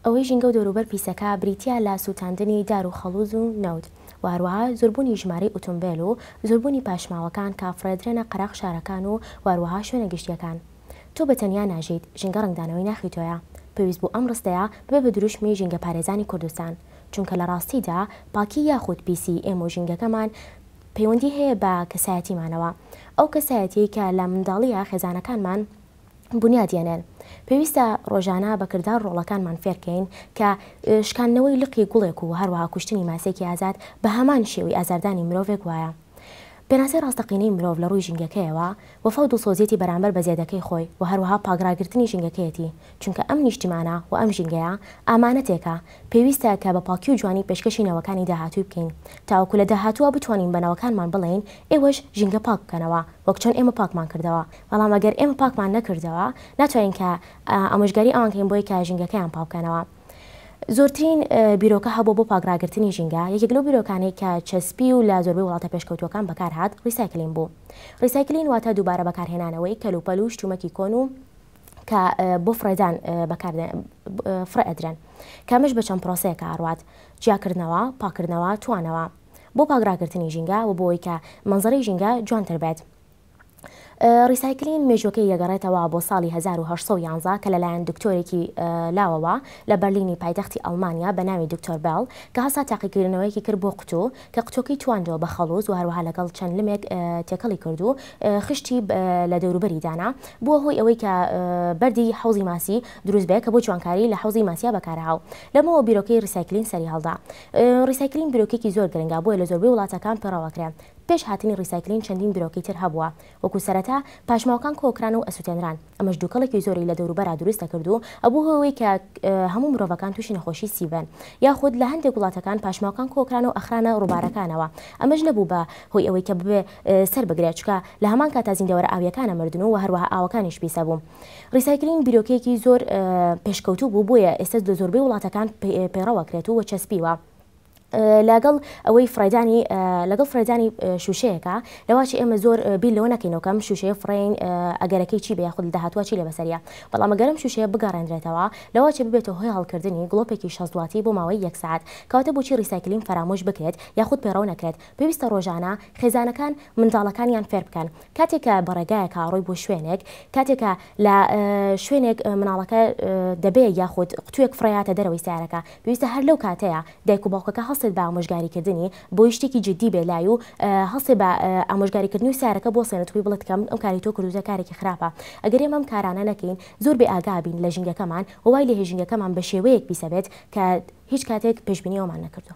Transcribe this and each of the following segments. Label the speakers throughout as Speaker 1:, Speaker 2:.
Speaker 1: ئەوەی ژینگە و دەوروبەر پیسەکا بریتیە لە سوتاندنی دار و خەڵوز و نەوت و هەروەها زۆربونی ژمارەی ئوتومبێل و زۆربونی پاشماوەکان کە ئەفڕێدرێنە قەراغ شارەکان و هەروەها شوێنە گشتیەکان. تۆ بە تەنیا ناژیت، ژینگە ڕەنگدانەوەی ناخی تۆیە، پێویست بوو ئەم ڕستەیە ببێ بە دروشمی ژینگەپارێزانی کوردستان، چونکە لە ڕاستیدا پاکی یاخود پیسی ئێمە و ژینگەکەمان پەیوەندی هەیە بە کەسایەتیمانەوە، ئەو کەسایەتیەی کە لە منداڵییە خێزانەکانمان بونیاد یەنێن، پێویستە ڕۆژانە بە کردار ڕۆڵەکانمان فێر کەین کە شکاندنەوەی لقی گوڵێک و هەروەها کوشتنی ماسێکی ئازاد بە هەمان شێوەی ئازاردانی مرۆڤێک وایە. پێناسەی ڕاستەقینەی مرۆڤ لە ڕووی ژینگەکەیەوە، وەفا و دڵسۆزیەتی بەرامبەر بە زێدەکەی خۆی و هەروەها پاک ڕاگرتنی ژینگەکەیەتی، چونکە ئەم نیشتیمانە و ئەم ژینگەیە ئامانەتێکە، پێویستە کە بە پاکی و جوانی پێشکەشی نەوەکانی داهاتووی بکەین، تاوەکو لە داهاتووە بتوانین بە نەوەکانمان بڵێین ئێوەش ژینگە پاک بکەنەوە وەک چۆن ئێمە پاکمان کردەوە، بەڵام ئەگەر ئێمە پاکمان نەکردەوە ناتوانین کە ئامۆژگاری ئەوان کەین بۆی کە ژینگەکەیان پاک بکەنەوە. زۆرترین بیرۆکە هەبوو بۆ پاکڕاگرتنی ژینگە یەکێک لەو بیرۆکانەی کە چەسپی و لە زۆربەی وڵاتە پێشکەوتوەکان بەکار هاات ڕیسایکلین بوو ڕیسایکلین واتە دووبارە بەکارهێنانەوەی کەلوپەل و شتومەکی کۆن و کە بۆ فڕێدان بەکار فڕێ ئەدرێن کەمش بە چەند پرۆسەیەکە ئاڕات جیاکردنەوە پاکردنەوە توانەوە بۆ پاگراگرتنی ژینگە و بۆی کە منزڕی ژینگە جوانتر بێت ڕیسایکلین مێژووەکەی دەگەڕێتەوە بۆ ساڵی 1911 کە لەلایەن دکتۆرێکی لاوەوە لە بەرلینی پایتەختی ئەڵمانیا بە ناوی دکتۆر بێڵ کە هەسا تاقیکردنەوەیەکی کرد بۆ قوتو کە قوتوەکەی تواندەوە بە خەڵوز و هەروەها لەگەڵ چەند لمێک تێکەڵی کرد و خشتی لە دەوروبەری دانا بووە هۆی ئەوەی کە بەردی حوزی ماسی دروست بێ کە بۆ جوانکاری لە حوزی ماسیا بەکارهاو لەمەوە بیرۆکەی ڕیسایکلین سەری هەڵدا ڕیسایکلین بیرۆکێکی زۆر گرنگە بۆیە لە زۆربەی وڵاتەکان پێڕەوەکرێن پێش هاتنی ڕیسایکلین چەندین برۆکی تر هەبووە وەکو سەرەتا پاشماوەکان کۆکران و ئەسوتێنران ئەمەش دوکەڵێکی زۆری لە دەوروبەرا دروست دەکرد و ئەبوو هۆی ئەوەی کە هەموو مرۆڤەکان توشی نەخۆشی سی بن یاخود لە هەندێک وڵاتەکان پاشماوەکان کۆکران و ئەخرانە ڕوبارەکانەوە ئەمەش نەبوو بە هۆی ئەوەی کە ببێ سەر بگرێ چکە لە هەمان کاتا زیندەوەرە ئاویەکان ئەمردن و هەروەها ئاوەکانیش پیس ئەبوو ڕیسایکلین بیرۆکەیەکی زۆر پێشکەوتوو بوو بۆیە ئێستا لە زۆربەی وڵاتەکان پەیڕەوە کرێت و چەسپیوە. لەگەڵ ئەوەی فڕێدانی لەگەڵ فڕێدانی شوشەیەەکە لەواچی ئێمە زۆر بیر لەوە نەکەینەوەکەم شوشەیە فڕین ئەگەرەکەی چی بە خود داهاتوە چی لە بەسەریا بەڵام ئەگەرم شوشەیە بگەڕێنرێتەوە لەواچە ببێتە هۆی هەڵکردنی گڵۆپێکی شەزدواتی بۆ ماوەی یەک سعات کەواتە بۆچی ریسایکلین فەرامۆش بکرێت یاخود پەیڕەو نەکرێت پێویستە ڕۆژانە خێزانەکان منداڵەکانیان فێر بکەن کاتێک کە بە ڕێگایەک ئەڕۆی بۆ شوێنێک، کاتێک کە لە شوێنێک مناڵەکە دەبێ یاخود قوتووێک فڕێیاتە دەرەوەی سەیارەکە، پێویستە هەر لەو کاتەیە دایک و باوکەکە هەڵسێت بە ئامۆژگاری کردنی، بۆی شتێکی جدی بێ لای و هەڵسێ بە ئامۆژگاری کردنی و سەیارەکە بوەستێنێت و پێی بڵێت کە ئەم کاری تۆ کردووتە کارێکی خراپە. ئەگەر ئێمە ئەم کارانە نەکەین، زۆر بێ ئاگا ئەبین لە ژینگەکەمان و وای لێ هێ ژینگەکەمان بە شێوەیەک پیسەبێت کە هیچ کاتێک پێشبینی ئەومان نەکردووە.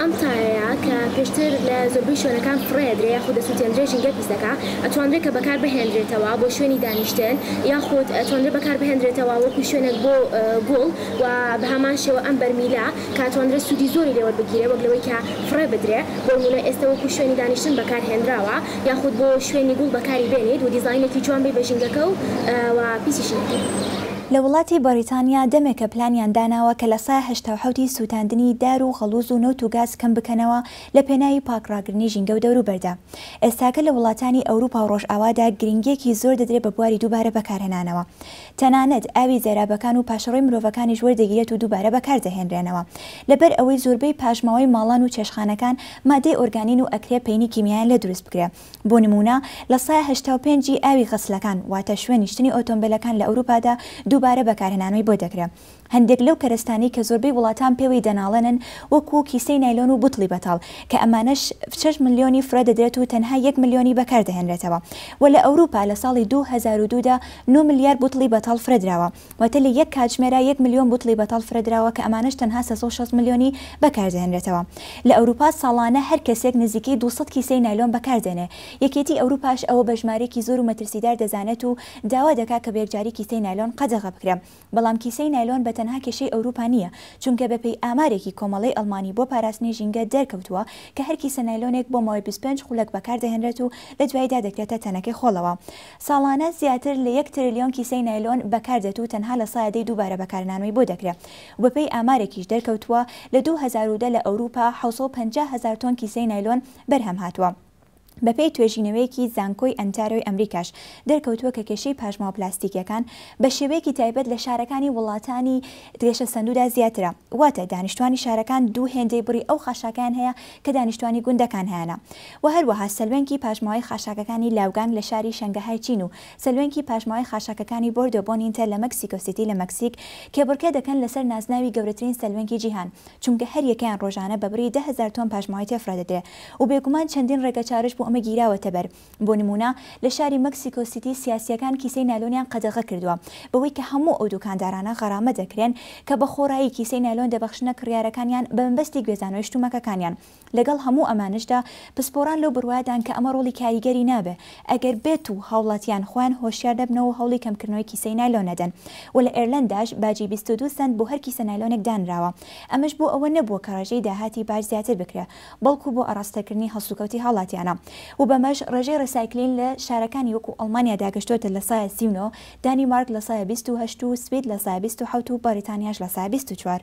Speaker 1: ئەم سایەیە کە پێشتر لە زۆربەی شوێنەکان فڕێ ئەدرێ یاخود دەسوتێندرێ ژینگەت پیس دەکا ئەتوانرێ کە بەکار بهێندرێتەوە بۆ شوێنی دانیشتن یاخود ئەتوانرێ بەکار بهێندرێتەوە وەکو شوێنێک بۆ گوڵ و بەهەمان شێوە ئەم بەرمیلە کە ئەتوانرێ سودی زۆری لێ وەربگیرێ وەک لەوەی کە فڕێ بدرێ بۆنمونە ئێستە وەکو شوێنی دانیشتن بەکار هێندراوە یاخود بۆ شوێنی گوڵ بەکاری بێنیت و دیزاینێکی جوان بی بە ژینگەکە و پیسیشی نەکەی. لە وڵاتی
Speaker 2: بەڕیتانیا دەمێکە پلانیان داناوە کە لە سایە هەشتا و حەوت ی سووتاندنی دار و غەڵووز و نەوت و گاز کەم بکەنەوە لە پێناوی پاک ڕاگرنی ژینگە و دەوروبەردا. ئێستاکە لە وڵاتانی ئەوروپا و ڕۆژئاوادا گرنگییەکی زۆر دەدرێ بە بواری دووبارە بەکارهێنانەوە. تەنانەت ئاوی زێرابەکان و پاشەڕۆی مرۆڤەکانیش وەردەگیرێت و دووبارە بەکار دەهێنرێنەوە. لەبەر ئەوەی زۆربەی پاشماوەی ماڵان و چێشتخانەکان مادەی ئۆرگانین و ئەکرێ پەینی کیمیایان لێ دروست بکرێ. بۆ نموونە لە سایە هەشتا و پێنج ی ئاوی غەسلەکان واتە شوێنی شتنی ئۆتۆمبێلەکان لە ئەوروپادا دووبارە بەکارهێنانەوەی بۆ دەکرێ هەندێک لەو کەرەستانەی کە زۆربەی وڵاتان پێوەی دەناڵێنن وەکوو کیسەی نایلۆن و بوتڵی بەتاڵ کە ئەمانەش شەش ملیۆنی فرە دەدرێت و تەنها یەک ملیۆنی بەکاردەهێنرێتەوە وە لە ئەوروپا لە ساڵی دوو هەزار و دوو دا نۆ ملیار بوتڵی بەتاڵ فرەدراوە وتلی یەک کاتژمێرە یەک ملیۆن بوتڵی بەتاڵ فرەدراوە کە ئەمانەش تەنها سێ سەد و شەست ملیۆنی بەکاردەهێنرێتەوە لە ئەوروپا ساڵانە هەر کەسێک نزیکەی دوو سەد کیسەی نایلۆن بەکاردێنێ یەکێتی ئەوروپاش ئەوە بە ژمارەیەکی زۆر و مەترسیدار دەزانێت و داوا دەکا کە بەیەکجاری کیسەی نایلۆن قەدەغە بکرێ بەڵام کیسەی نایلۆن بە تەنها کێشەی ئەوروپا نییە چونکە بە پێی ئامارێکی کۆمەڵەی ئەڵمانی بۆ پاراستنی ژینگە دەرکەوتووە کە هەر کیسە نایلۆنێک بۆ ماوەی بیست و پێنج خولەک بەکاردەهێنرێت و لە دواییدا دەکرێتە تەنەکەی خۆڵەوە ساڵانە زیاتر لە یەک ترلیۆن کیسەی نایلۆن بەکاردێت و تەنها لە سایە دەی دووبارە بەکارنانەوەی بۆ دەکرێ و بەپێی ئامارێکیش دەرکەوتووە لە دوو هەزار و دە لە ئەوروپا حەوت سەد و پەنجا هەزار تۆن کیسەی نایلۆن بەرهەم هاتووە. بەپێی توێژینەوەیەکی زانکۆی ئەنتارۆی ئەمریکاش دەرکەوتووە کە کێشەی پاشماوە پلاستیکیەکان بە شێوەیەکی تایبەت لە شارەکانی وڵاتانی گەشەسەندوودا زیاترە واتە دانیشتوانی شارەکان دوو هێندەی بڕی ئەو خاشاکەیان هەیە کە دانیشتوانی گوندەکان هەیانە و هەروەها سەلوێنکی پاشماوەی خاشاکەکانی لاوگانگ لە شاری شەنگەهای چین و سەلوێنکی پاشماوەی خاشاکەکانی بۆردۆ بۆنینتە لە مەکسیکۆ سیتی لە مەکسیک کێبڕکێ دەکەن لەسەر نازناوی گەورەترین سەلوێنکی جیهان چونکە هەریەکەیان ڕۆژانە بە بڕی دە هەزار تۆن پاشماوەی تێفڕێدەدرێ و بێگومان چەندین ڕێگەچارەش بۆ ئەمە گیراوەتەبەر بۆ نموونە لە شاری مەکسیکۆ سیتی سیاسییەکان کیسەی نایلۆنیان قەدەغە کردووە بەوەی کە هەموو ئەو دووکاندارانە غەرامە دەکرێن کە بە خۆڕایی کیسەی نایلۆن دەبەخشنە کڕیارەکانیان بە مەبەستی گوێزانەوەی شتومەکەکانیان لەگەڵ هەموو ئەمانەشدا پسپۆڕان لەو بڕوایەدان کە ئەمە ڕۆڵی کاریگەری نابێ ئەگەر بێت و هاوڵاتیان خۆیان هۆشیار نەبنەوە و هەوڵی کەمکردنەوەی کیسەی نایلۆن نەدەن و لە ئێرلەنداش باجی بیست و دوو سەنت بۆ هەر کیسە نایلۆنێک دانراوە ئەمەش بۆ ئەوە نەبووە کە ڕێژەی داهاتی باج زیاتر بکرێ بەڵکو بۆ ئاراستەکردنی هەڵسوکەوتی هاوڵاتیانە و بەمەش ڕێژەی ڕیسایکلین لە شارەکانی وەکو ئەڵمانیا داگەشتۆتە لە سایە سی و نۆ، دانیمارک لە سایە بیست و هەشت و سوید لە سایە بیست و حەوت و بەڕیتانیاش لە سایە بیست و چوار.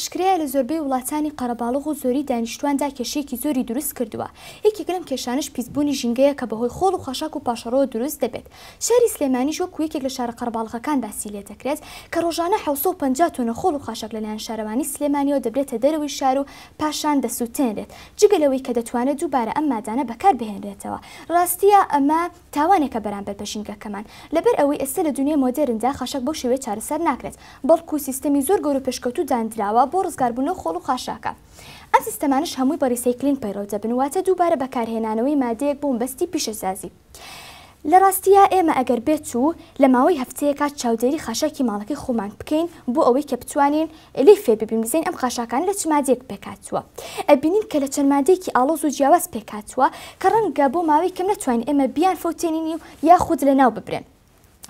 Speaker 3: ئاشکرایە لە زۆربەی وڵاتانی قەرەباڵغ و زۆری دانیشتواندا کێشەیەکی زۆری دروست کردووە یەکێک لەم کێشانەش پیسبوونی ژینگەیە کە بەهۆی خۆڵ و خاشاک و پاشەڕۆوە دروست دەبێت شاری سلێمانیش وەکو یەکێک لە شارە قەرەباڵغەکان باسی لێدەکرێت، کە رۆژانە حەوت سەد و پەنجا تۆنە خۆڵ و خاشاک لەلایەن شارەوانیی سلێمانییەوە دەبرێتە دەرەوەی شار و پاشان دەسوتێنرێت، جگە لەوەی کە دەتوانێت دووبارە ئەم مادانە بەکاربهێنرێتەوە، راستییە ئەمە تاوانێکە بەرامبەر بە ژینگەکەمان، لەبەر ئەوەی ئێستا لە دونیای مۆدێرندا خاشاک بەو شێوەیە چارەسەر ناکرێت، بەڵکو سیستەمی زۆر گەورە و پێشکەوتوو دانراوە بۆ رزگاربوون لەو خۆڵ و خاشاکە، ئەم سیستەمانەش هەمووی بە ریسەیکلین پەیڕەو دەبن، واتە دووبارە بەکارهێنانەوەی مادەیەک بۆ مەبەستی پیشەسازی. لە ڕاستییا ئێمە ئەگەر بێت و لە ماوەی هەفتەیەکا چاودێری خاشاکی ماڵەکەی خۆمان بکەین بۆ ئەوەی کە بتوانین لێی فێر ببین بزانین ئەم خاشاکانە لە چ مادەیەک پێکهاتووە ئەبینین کە لە چەند مادەیەکی ئاڵۆز و جیاواز پێکهاتووە کە ڕەنگە بۆ ماوەی کەم نەتوانین ئێمە بیانفەوتێنین و یاخود لەناو ببرێن.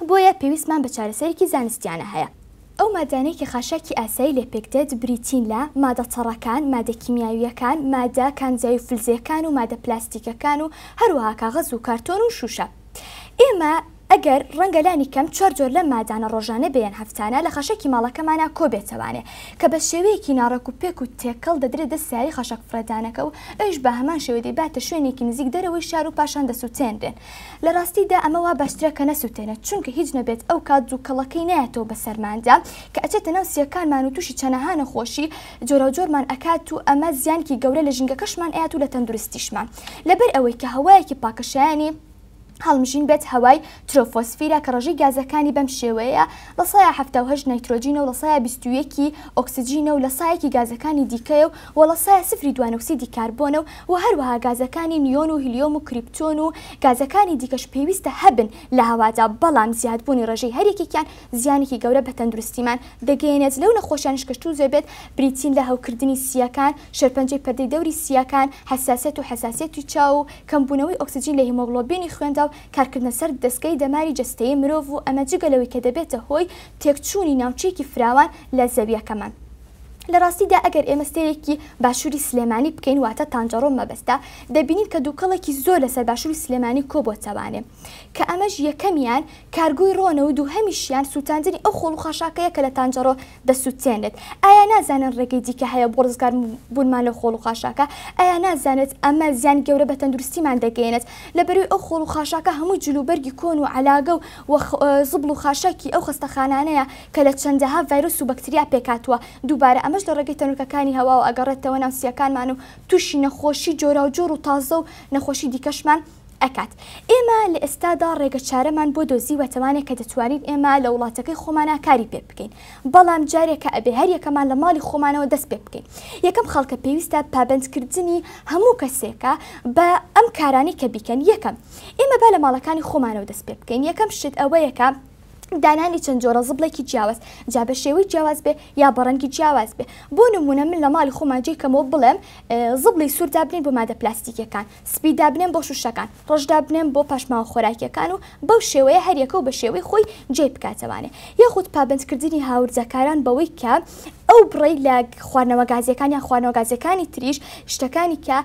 Speaker 3: بۆیە پێویستمان بە چارەسەرێکی زانستیانە هەیە. ئەو مادانەی کە خاشاکی ئاسایی لێ پێکدێت بریتین لە، مادە تەڕەکان، مادە کیمیاوییەکان، مادە کانزایی و فلزییەکان و مادە پلاستیکەکان و هەروەها کاغەز و کارتۆن و شووشە. ئێمە ئەگەر ڕەنگە لانی کەم چوار جۆر لەم مادانە ڕۆژانە بێ یان هەفتانە لە خاشاکی ماڵەکەمانا کۆ بێتەوانێ کە بە شێوەیەکی ناڕێکوپێک و تێکەڵ دەدرێ دەست سەیاری خاشاکفڕێدانەکە و ئەویش بە هەمان شێوە دەیباتە شوێنێکی نزیک دەرەوەی شار و پاشان دەسووتێنرێن لە راستی دا ئەمە وا باشترە کە نەسوتێنێت چونکە هیچ نەبێت ئەو کات دوکەڵەکەی نایەتەوە بە سەرمان دا کە ئەچێتە ناو سیەکانمان و توشی چەنەها نەخۆشی جۆراو جۆرمان ئەکات و ئەمە زیانکی گەورە لە ژینگەکەشمان ئەیات و لە تەندروستیشمان لەبەر ئەوەی کە هەوایەکی پاکە شایەنی هەڵمژین بێت هەوای ترۆفۆسفیرە کە رەژەی گازەکانی بەم شێوەیە لە سایە حەفتا و هەشت نایترۆجینە و لە سایە بیست و یەک ی ئۆکسجینە و لە سایەکی گازەکانی دیکەیە و لە سایە سفری دوانۆکسیدی کاربۆنە و و هەروەها گازەکانی نیۆن و هیلیۆم و کریپتۆن و گازەکانی دیکەش پێویستە هەبن لە هەوادا، بەڵام زیادبوونی ڕێژەی هەر یەکێکیان زیانێکی گەورە بە تەندروستیمان دەگەیەنێت، لەو نەخۆشیانەش کە تووزێ بێت بریتین لە هەوکردنی سییەکان، شێرپەنجەی پەردەی دەوری سییەکان، حەساسیەت و حەساسیەتی چاو و کەمبوونەوەی ئۆکسجین لە هیمۆگڵۆبینی خوێندا و کارکردنە سەر دەزگای دەماری جەستەیی مرۆڤ و ئەمە جگە لەوەی کە دەبێتە هۆی تێکچوونی ناوچەیەکی فراوان لە زەوییەکەمان. لە ڕاستیدا ئەگەر ئێمە سەیرێکی باشووری سلێمانی بکەین واتە تانجەڕۆ مەبەستە دەبینین کە دووکەڵێکی زۆر لەسەر باشووری سلێمانی کۆبۆتەوانێ کە ئەمەش یەکەمیان کارگۆی ڕۆنە و دووهەمیشیان سووتاندنی ئەو خۆڵ و خاشاکەیە کە لە تانجەڕۆ دەسووتێنێت ئایا نازانن ڕێگەی دیکە هەیە بۆ ڕزگار بوونمان لەو خۆڵ و خاشاکە ئایا نازانێت ئەمە زیانی گەورە بە تەندروستیمان دەگەیەنێت لە بەرووی ئەو خۆڵ و خاشاکە هەمووی جل و بەرگی کۆن و عەلاگە و زبڵ و خاشاکی ئەو خەستەخانانەیە کە لە چەندەها ڤایرۆس و بەکتریا پێکهاتووە، دووبارە ئەمەش لە ڕێگەی تەنۆلکەکانی هەواوە ئەگەڕێتەوە ناو سییەکانمان و تووشی نەخۆشی جۆراوجۆر و تازە و نەخۆشی دیکەشمان ئەکات. ئێمە لە ئێستادا ڕێگە چارەمان بۆ دۆزیوە تەوانێک کە دەتوانین ئێمە لە وڵاتەکەی خۆمانا کاری پێ بکەین بەڵام جارێکە ئەبێ هەر یەکەمان لە ماڵی خۆمانەوە دەست پێ بکەین یەکەم خەڵکە پێویستە پابەند کردنی هەموو کەسێکە بە ئەم کارانەی کە بیکەن یەکەم ئێمە با لە ماڵەکانی خۆمانەوە دەست پێ بکەین یەکەم شت ئەوەیە کە دانانی چەند جۆرە زبڵێکی جیاواز جا بە شێوەی جیاواز بێ یا بەڕەنگی جیاواز بێ بۆ نمونە من لە ماڵی خۆمان جێکەمەوە بڵێم زبڵی سوور دابنین بۆ مادە پلاستیکەکان سپی دابنێن بۆ شوشەکان ڕژدا بنێن بۆ پاشماوە خۆراکیەکان و بەو شێوەیە هەریەکە و بە شێوەی خۆی جێ بکاتەوانێ یاخود پابندکردنی هاورزەکاران بەوەی کە ئەو بڕی لە خواردنەوە گازیەکان یا خواردنەوە گازیەکانی تریش شتەکانی کە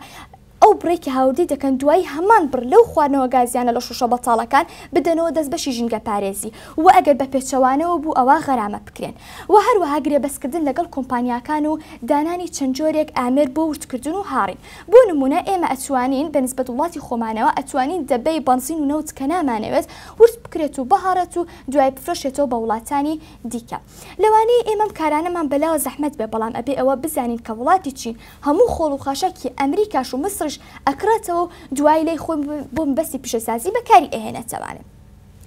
Speaker 3: ئەو بڕەی کە هاوردەی دەکەن دوایی هەمان بڕ لەو خواردنەوە گازیانە لە شوشە بەتاڵەکان بدەنەوە دەست بەشی ژینگە پارێزی وە ئەگەر بە پێچەوانەوە بوو ئەوا غەرامە بکرێن وە هەروەها گرێبەست کردن لەگەڵ کۆمپانیاکان و دانانی چەند جۆرێک ئامێر بۆ ورد کردن و هاڕین بۆ نمونە ئێمە ئەتوانین بە نسبەت وڵاتی خۆمانەوە ئەتوانین دەبەی بەنزین و نەوت کە نامانەوێت ورد بکرێت و بهاڕێت و دوای بفرۆشێتەوە بە وڵاتانی دیکە. لەوانەیە ئێمە ئەم کارانەمان بەلاوە زەحمەت بێ بەڵام ئەبێ ئەوە بزانین کە وڵاتی چین هەموو خۆڵ و خاشاکی ئەمریکاش و میسڕیش ئەکڕێتەوە و دوایی لای خۆی بۆ مەبەستی پیشەسازی بەکاری ئەهێنێتەوانێ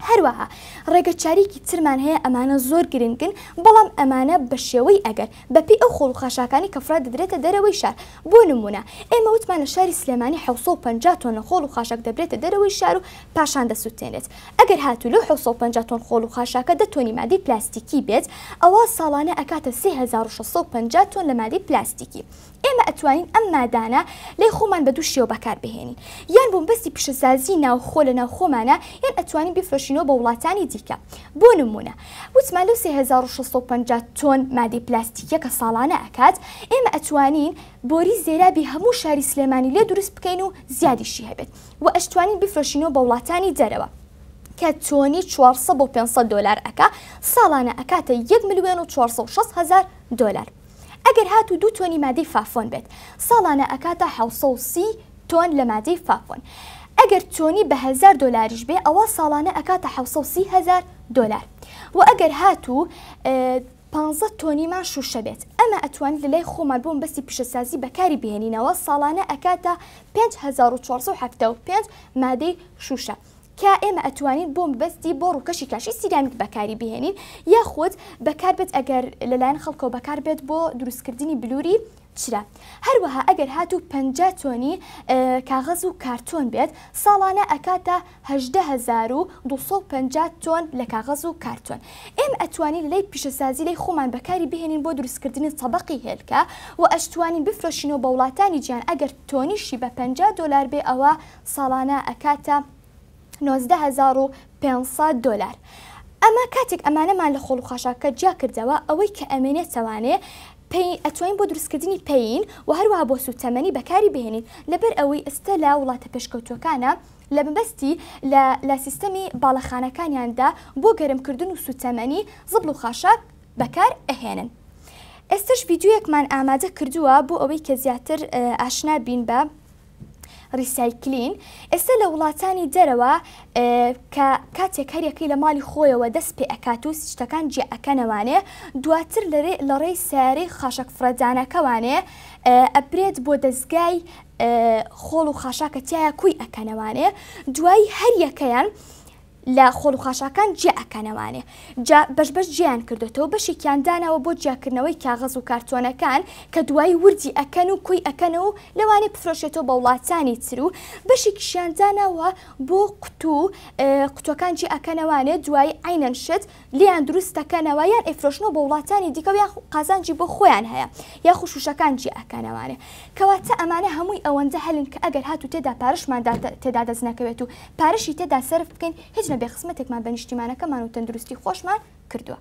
Speaker 3: هەروەها ڕێگە چاریکی ترمان هەیە ئەمانە زۆر گرنگن بەڵام ئەمانە بە شێوەی ئەگەر بە پێی ئەو خۆڵ و خاشاکانی کە فرە دەدرێتە دەرەوەی شار بۆ نموونە ئێمە وتمان لە شاری سلێمانی حەوت سەد و پەنجا تۆنە خۆڵ و خاشاک دەبرێتە دەرەوەی شار و پاشان دەسوتێنرێت ئەگەر هاتوو لەو حەوت سەد و پەنجا تۆن خۆڵ و خاشاکە دە تۆنی مادەی پلاستیکی بێت ئەوا ساڵانە ئەکاتە سێ هەزار و شەش سەد و پەنجا تۆن لە مادەی پلاستیکی ئێمە ئەتوانین ئەم مادانە لای خۆمان بە دوو شێوە بەکار بهێنین یان بۆ مبەستی پیشەسازی ناوخۆ لە ناو خۆمانا یان ئەتوانین بیفرۆشینەوە بە وڵاتانی دیکە بۆ نمونە وتمان لەو سێ هەزار و شەش سەد و پەنجا تۆن مادەی پلاستیکیە کە ساڵانە ئەکات ئێمە ئەتوانین بۆری زێرابی هەموو شاری سلێمانی لێ دروست بکەین و زیادیشی هەبێت وە ئەشتوانی بیفرۆشینەوە بە وڵاتانی دەرەوە کە تۆنی چوار سەد بۆ پێنج سەد دۆلار ئەکا ساڵانە ئەکاتە یەک ملیۆن و چوار سەد و شەست هەزار دۆلار ئەگەر هاتوو دوو تۆنی مادەی فافۆن بێت ساڵانە ئەکاتە حەوت سەد و سی تۆن لە مادەی فافۆن ئەگەر تۆنی بە هەزار دۆلاریش بێ ئەوا ساڵانە ئەکاتە حەوت سەد و سی هەزار دۆلار وە ئەگەر هاتوو پانزە تۆنیمان شوشە بێت ئەمە ئەتوانین لەلای خۆمان بۆ مەبەستی پیشەسازی بەکاری بهێنینەوە ساڵانە ئەکاتە پێنج هەزار و چوار سەد و حەفتا و پێنج مادەی شوشە کە ئێمە ئەتوانین بۆ مەبەستی بۆ ڕوکەشی کاشی سیرامیک بەکاری بهێنین یاخود بەکار بێت ئەگەر لەلایەن خەڵکەوە بەکار بێت بۆ دروست کردنی بلوری چرا هەروەها ئەگەر هاتوو پەنجا تۆنی کاغەز و کارتۆن بێت ساڵانە ئەکاتە هەژدە هەزار و دوو سەد و پەنجا تۆن لە کاغەز و کارتۆن ئێمە ئەتوانین لە لای پیشەسازی لای خۆمان بەکاری بهێنین بۆ دروستکردنی تەبەقی هێلکە وە ئەشتوانین بفرۆشینەوە بە وڵاتانی جیهان ئەگەر تۆنیشی بە پەنجا دۆلار بێ ئەوە ساڵانە ئەکاتە نۆزدە هەزار و پێنج سەد دۆلار ئەمە کاتێک ئەمانەمان لە خۆڵ و خاشاکەکە جیا کردەوە ئەوەی کە ئەمێنێتەوانێ پەی ئەتوانین بۆ دروستکردنی پەین وە هەروەها بۆ سوتەمەنی بەکاری بهێنین لەبەر ئەوەی ئێستا لە وڵاتە پێشکەوتوەکانە لە مەبەستی لە لە سیستەمی باڵەخانەکانیان دا بۆ گەرم کردن و سوتەمەنی زبڵ و خاشاک بەکار ئەهێنن ئێستەش ڤیدیۆیەکمان ئامادە کردووە بۆ ئەوەی کە زیاتر ئاشنا بین بە ڕیسایکلین ئێستا لە وڵاتانی دەرەوە کە کاتێک هەریەکەی لە ماڵی خۆیەوە دەست پێ ئەکات و سیشتەکان جێ ئەکەنەوانێ دواتر لەرێ لە ڕێی سیارەی خاشەک فڕەدانەکەوانێ ئەبرێت بۆ دەستگای خۆڵ و خاشاکە تیایا کۆی ئەکەنەوانێ دوایی هەریەکەیان لە خۆڵ و خاشاکان جێ ئەکەنەوانێ جا بەش بەش جیان کردوێتەوە بەشێکیان داناوە بۆ جیاکردنەوەی کاغەز و کارتۆنەکان کە دوایی وردی ئەکەن و کۆی ئەەکەنەوە و لەوانێ بفرۆشێتەوە بە وڵاتانی تر و بەشێکیشیان داناوە بۆ قوتوو قوتوەکان جێ ئەکەنەوانێ دوایی عینەن شت لێیان دروست دەکەنەوە یان ئەیفرۆشنەوە بۆ وڵاتانی دیکەو یان قازانجی بۆ خۆیان هەیە یاخو شوشەکان جیا ئەکەنەوانێ کەواتە ئەمانە هەمووی ئەوەندە هەلن کە ئەگەر هاتو تێدا پارەشمان تێدا دەست نەکەوێت و پارەشی تێدا سەرف بکەین هیچ نەبێ خزمەتێکمان بە نیشتیمانەکەمان و تەندروستی خۆشمان کردوە.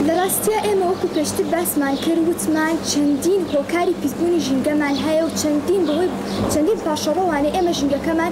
Speaker 3: لە راستیا ئێمە وەکو پێشتر باسمان کرد وتمان چەندین هۆکاری پیسبونی ژینگەمان هەیە و چەندین بەهۆی چەندین پاشەڕۆوانێ ئێمە ژینگەکەمان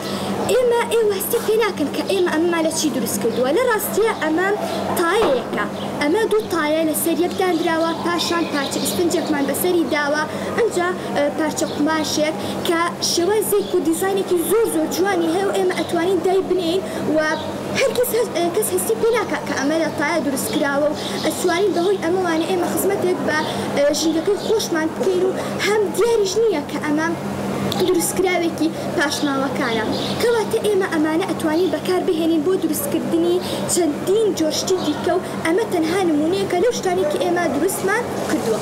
Speaker 3: ئێمە ئێوە هەستی پێ ناکەن کە ئێمە ئەمەمان لە چی دروست کردووە، لە ڕاستییا ئەمە تایەیەکە، ئەمە دوو تایە لە سەر یەک داندراوە، پاشان پارچە ئیسفنجێکمان بە سەری داوە، ئەنجا پارچە قوماشێک کە شێوازێک و دیزاینێکی زۆر زۆر جوانی هەیە و ئێمە ئەتوانین دای بنێین و هەرگیز کەس هەستی پێ ناکات کە ئەمە لە تایە دروست کراوە و ئەتوانین بە هۆی ئەمەوانە ئێمە خزمەتێک بە ژینگەکەی خۆشمان بکەین و هەم دیاریش نییە کە ئەمە دروستکراوێکی پاشماوەکانە کەواتە ئێمە ئەمانە ئەتوانین بەکار بهێنین بۆ دروستکردنی چەندین جۆر شتی دیکە و ئەمە تەنها نمونەیەکە لەو شتانەی کە ئێمە دروستمان کردووە.